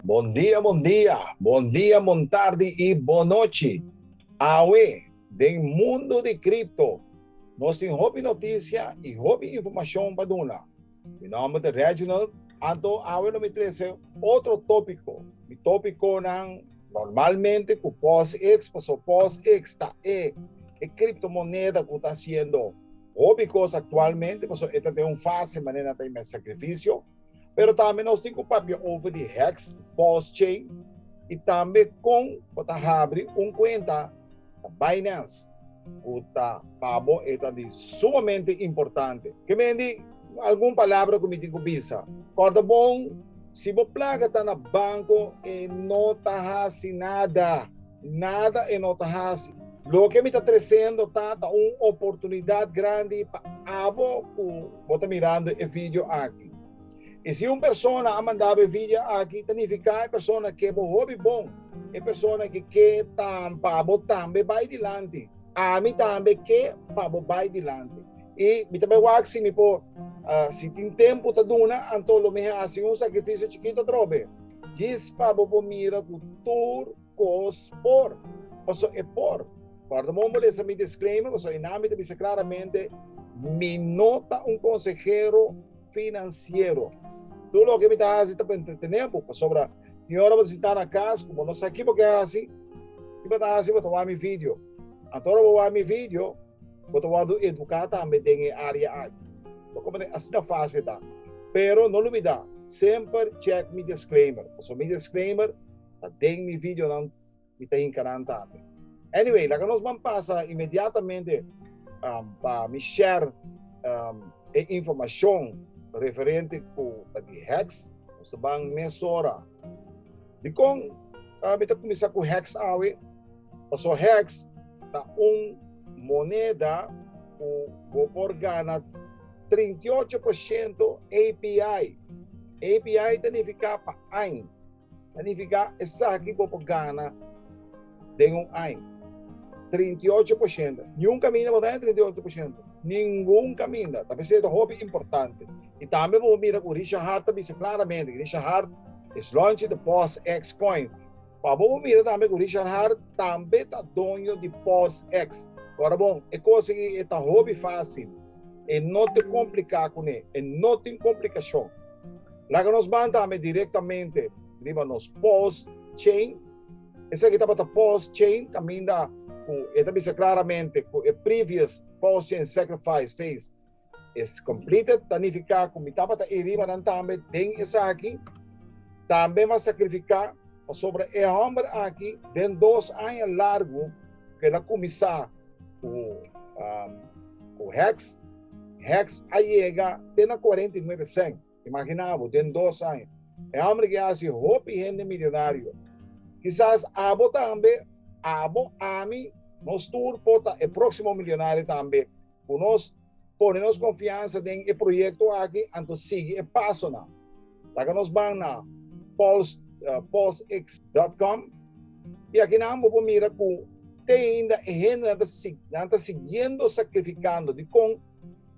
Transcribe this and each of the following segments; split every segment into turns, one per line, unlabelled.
Bon dia bon dia, bon dia bon tardi y bon nochi. Awe den mundo di cripto nos tin hopi noticia y hopi informacion pa duna. Mi nomber ta Reginald. Anto awe no mi trece otro topico. Mi topiconan normalmente cu POSIX, paso POSIX ta e e criptomoneda cu ta haciendo hopi cos actualmente, paso e ta den un fase manera nan ta inmest sacrificio. Pero tambe nos tin cu papia over di hex, POSChain y tambe con bo ta habri un cuenta na Binance. Cu ta pa bo e ta di sumamente importante. Ke men di algun palabra cu mi tin cu bisa. Corda bon, si bo placa ta na banco e no ta haci nada, nada e no ta haci. Loke mi ta trecendo ta, ta un oportunidad grandi pa abo cu bo ta mirando e video aki. I si un persona a manda bo e vidio aki, ta nifiká e persona ke bo hopi bon, e persona ke ke tan pa bo tambe bai dilanti, ami tambe ke pa bo bai dilanti. I mi ta bai wak si mi por, si tin tempu ta duna, anto lo mi hasi un sakrifisio chikito atrobe, djis pa bo por mira ku tur kos por, paso e por. Kòrda bon bo lesa mi disclaimer, paso einan mi ta bisa klaramente mi no ta un konsehero, Finansiero. Tur loke mi ta hasi ta pa entretené bo, pasobra tin ora bo ta sintá na kas, ku bo no sa kibo ke hasi, tin pa ta hasi bo ta wak mi video. Anto ora bo wak mi video, bo ta wòrdu eduká tambe den e área aki. Bo koprendé? Asina fásil ta. Pero no lubidá, semper chèk mi disclaimer, pasobra mi disclaimer ta den mi videonan. mi ta hinka nan tambe. Anyway, laga nos ban pasa inmediatamente um, pa mi share um, e informacion referente cu ta di hex. Nos ban mesora. Di con uh, mi ta comisa cu hex awe? Paso hex ta un moneda cu go por gana 38% API. API ta nifica pa ain. Ta nifiká esaki bo por gana den un aña. 38 por shento. Niun kaminda bo ta haya 38 por shento. Ningun kaminda. Ta p'esei ta hopi importante. I tambe bo por mira ku Richard Heart ta bisa klaramente, Richard Heart is launching the POSX coin. Pa bo por mira tambe ku Richard Heart tambe ta doño di POSX. Kòrda bon, e kos aki e ta hopi fásil. E no ta kompliká kuné. E no tin komplikashon. Laga nos ban tambe direktamente riba nos pos chain. Esaki tabata pos chain kaminda ku e ta bisa klaramente ku e previous pos chain sacrifice phase is completed, ta nifiká ku mi tabata ei riba nan tambe den esaki, tambe mi a sakrifiká pasobra e hòmber aki den dos aña largu ku el a kuminsá ku ku hèks, hèks a yega te na kuarenta i nuebe sèn. Imaginá bo, den dos aña, e hòmber aki a hasi hopi hende milionario. Kisas abo tambe, abo, ami, nos tur por ta e próksimo milionario tambe. Ku nos pone nos konfiansa den e proyekto aki anto sigui e pasonan. Laga nos ban na Pulse, pulsx dòt kòm i aki nan bo por mira ku te ainda e hendenan ta nan ta siguiendo sakrifikando. Dikon?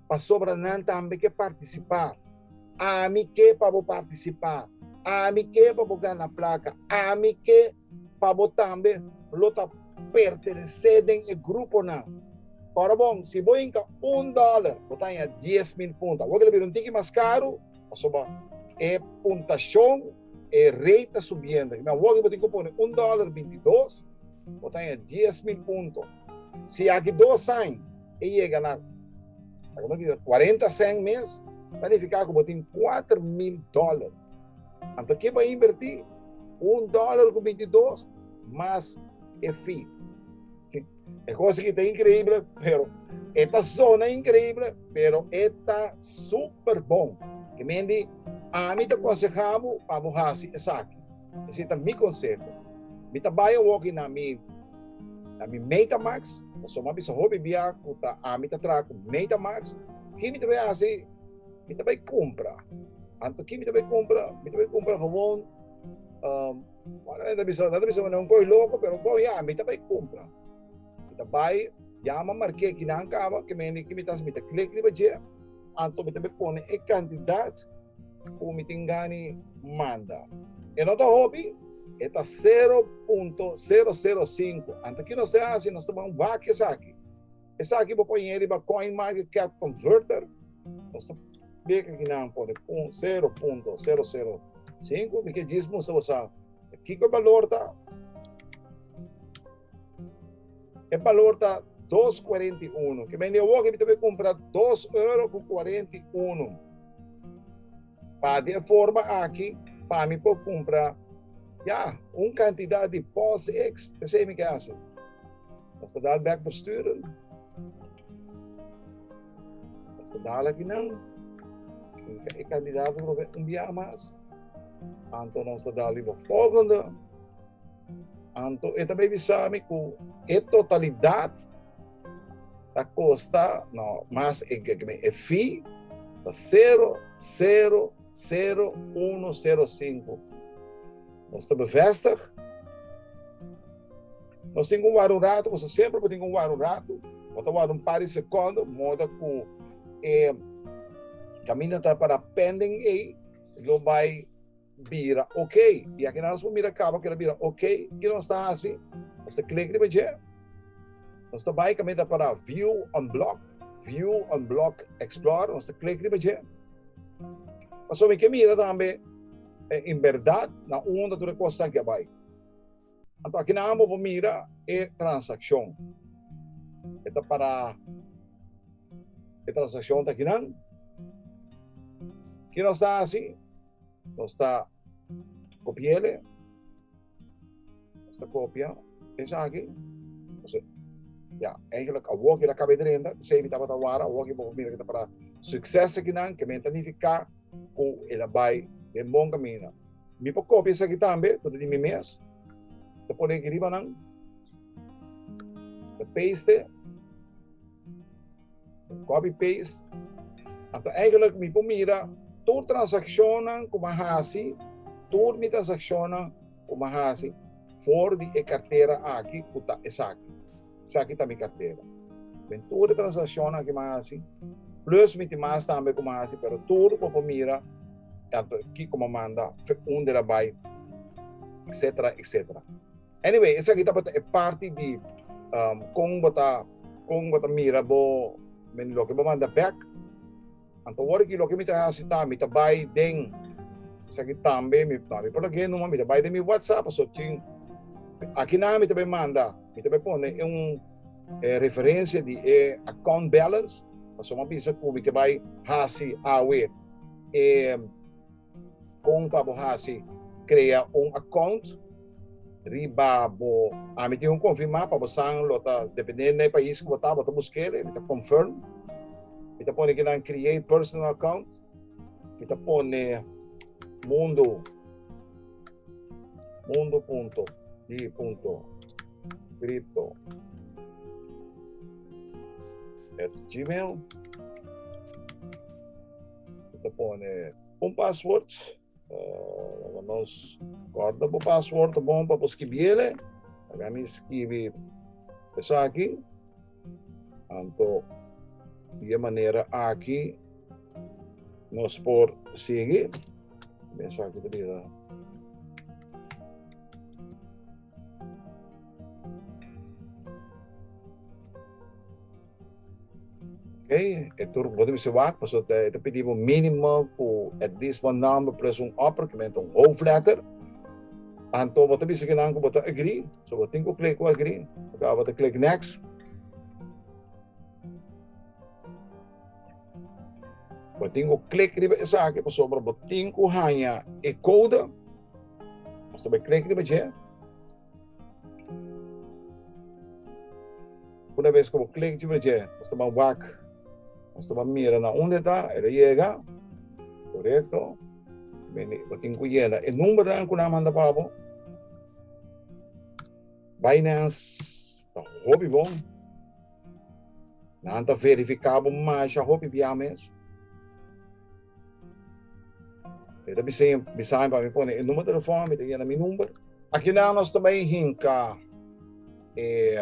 pasobra nan tambe ke partisipá. Ami ke pa bo partisipá? Ami ke pa bo gana plaka? Ami ke pa bo tambe lo ta pertenesé den e gruponan? Ora bon, si bo hinka un dòler, bo ta haña dies mil punto. Awor ke lo bira un tiki mas karu, pasobra e puntashon, e rate ta subiendo. I awor ke bo tin ku pone un dòler binti dos, bo ta haña dies mil punto. Si aki dos aña. e yega nan. Ta kunda di 40 cent mes, ta nifiká ku bo tin kuater mil dòler. Anto ke bo a invertí? Un dòler ku binti dos mas e fi. E kos aki ta inkreible, pero e ta sona inkreible, pero e ta super bon. Ke men di, Ami ta konsehá bo pa bo hasi esaki. Esei ta mi konseho. Mi ta bai awor ki na mi na mi Metamax, paso mi a bisa hopi bia ku ta ami ta traha ku Metamax. Ki mi ta bai hasi? Mi ta bai kumpra. Anto ki mi ta bai kumpra? Mi ta bai kumpra gewoon, um, bueno, nan ta bisa, nan ta bisa nan e un kos loko, pero bon, ya, mi ta bai kumpra. Mi ta bai yama marke ki nan kaba, ke men di ki mi ta hasi, mi ta klik riba dje, Anto mi ta be pone e kantidat ku mi tin gani manda. E no ta hopi, e ta sero punto sero sero sinku. Anto kiko nos te hasi? Nos ta ban wak esaki. Esaki bo pone e riba CoinMarketCap Converter. Nos ta beka ki nan pone sero punto sero sero sinku. Mi ke djis mustra bo sa kiko e balor ta. E balor ta dos kuarenta i unu. Ke mende awor ke mi ta por kumpra dos euro ku kuarenta i unu. Pa di e forma aki pa mi por kumpra ya un kantidat di pos eks. P'esei mi ke hasi Amsterdal bek versturen. Amsterdal aki nan e kandidato probe un biaha mas. Anto Amsterdal riba volgende. Anto e ta bai bisa mi ku e totalidat ta kosta no mas e ke mi e fi ta sero sero sero uno sero sinku. Nos ta bevestig nos tin un waru ratu nos ta semper por tin un waru ratu bo ta wòrdu un par di sekondo modo ku e kaminda ta para pending ei lo bai bira ok. Ya ke nan nos por mira kaba kila bira ok, kiko nos ta hasi? Nos ta klik riba dje, nos ta bai kaminda para View Unblock, View Unblock Explorer, nos ta klik riba dje. Pasobra mi ke mira tambe en berdad na unda tur e kos ta ke bai. Anto aki nan amo por mira e transakshon. E ta para e transakshon ta aki nan. Ki nos ta hasi? Nos ta kopiele. Nos ta kopia esaki. Nos ya, eigenlijk awor ki la kabe drenta, sei mi tabata wara, awor ki bo por mira ki ta para sukses aki nan, ke men ta nifiká ku e la bai den bon kaminda. Mi por copia esaki tambe, por di mi mes. Te pone aquí riba nan. Te paste. Copy paste. Anto eigenlijk mi por mira tur transaccionan kuma hasi, tur mi transaccionan kuma hasi for di e cartera aki ku ta esaki. Esaki ta mi kartera. Den tur e transakshonnan ku mi a hasi, plus mi tin mas tambe ku mi a hasi, pero tur bo por mira tantu kiko mi a manda, unde a bai, etsetera, etsetera. Anyway, esaki tabata e parti di kon bo ta kon bo ta mira bo loke bo manda bèk. Anto wor aki loke mi ta hasi ta mi ta bai den esaki tambe mi no mi por ta guia e number mi ta bai den mi whatsapp pasobra tin aki nan mi ta bai manda mi ta bai pone e un e referencia di e account balance pasobra mi a bisa ku mi ta bai hasi awe e Kon pa bo hasi? Krea un akount riba bo Ami tin un konfirmá pa bosan lo ta dependendo na e pais ku bo ta bo ta buska el, mi ta confirm mi ta pone kinan create personal account mi ta pone mundo mundo punto di punto cripto at gmail. Ta pone un password. Uh, nos corta por password ta bom para escribirle. Acá me escribe eso aquí. Anto, de manera aquí nos por seguir. Esa aquí te digo. Okay, e tur bo te bisa wak, paso te, te pidi bo mínimo ku at least one number plus un upper, que menta un hoofdletter. Anto bo te bisa ke nan ku bo te agree, so bo tin ku klik ku agree. Oké, bo te klik next. Bo tin ku klik riba esaki, pasobra bo tin ku haña e koude. Paso bo klik riba dje, Una bes ku bo klik ciber dje, nos ta ban wak, nos ta ban mira na unda e ta, e ta yega, korekto, bo tin ku yena e numbernan ku nan a manda pa bo. Binance ta hopi bon, nan ta verifiká bo masha hopi bia mes. E ta bisa bisa pa mi pone e number telefon mi ta yena mi number. Aki nan nos ta bay hinka e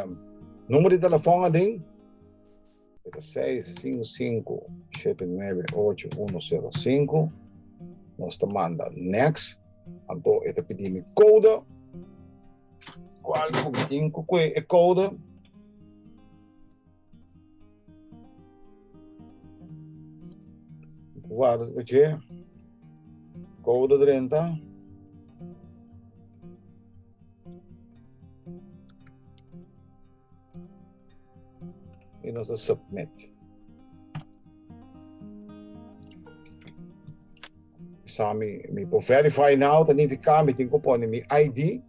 number di telefon adin. Eta 655-798-105. Nos ta manda next. Anto eta pidi mi code. Cual mi tin cu e code. Guarda su peche. Kouda drenta. I nos ta submit. Sa mi mi por verify now ta nifica mi tin cu pone mi ID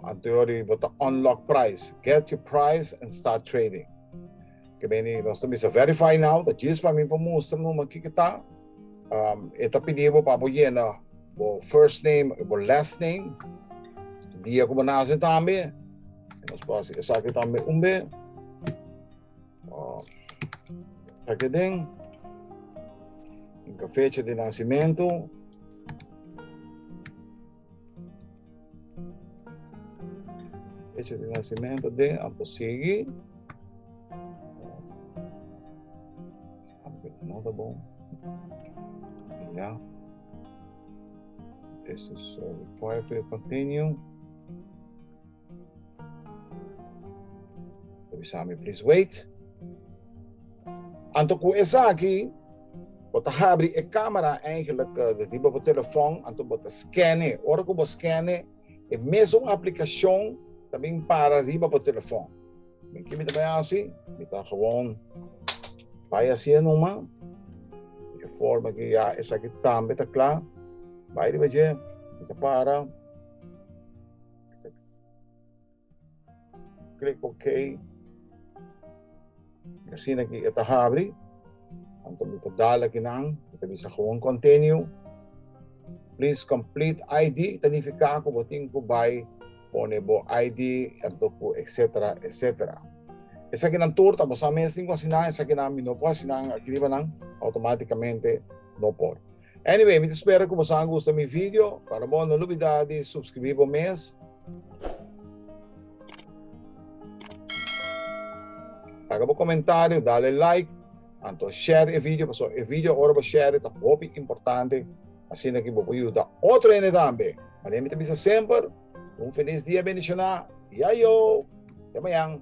anterior di bo ta unlock price get your price and start trading ke meni nos ta bisa verify now ta djis pa mi por mustra numa kiko ta e ta pidi bo pa bo yena bo first name y bo last name dia cu bo nace tambe nos por haci esaki tambe un be. Oh. Aquí den. Fecha de nacimiento. Fecha de nacimiento de Amposigi. No tá bom. Yeah. This is uh, required for continue. Ta bisa mi please wait. Anto ku esaki bo ta habri e camera eigenlijk de riba bo telefon anto bo ta skene. Ora ku bo skene e mesun aplikashon ta bin para riba bo telefon. Mi ki mi ta bai hasi, mi ta gewoon bai asie numa di e forma ku ya esaki tambe ta kla. Bai riba dje, mi ta para. Klik ok. Asina ki e ta habri. Anto mi ta dala ki nan. Mi ta bisa gewoon continue. Please complete ID. Ta nifiká ku bo tin ku bai pone bo ID, anto ku etsetera, etsetera. Esakinan tur ta basá mes tin ku asina. Esakinan mi no por asina. Aki riba nan automátikamente no por. Anyway, mi ta spera ku boso a gusta mi video. Ora bo no lubida di supskribi bo mes. Laga bo komentario, dale like, anto share e video paso e video ora bo share ta hopi importante asina ku bo por yuda otro hende tambe. Mane'e mi ta bisa semper, un felis dia bendishoná i ayow! Te mañan!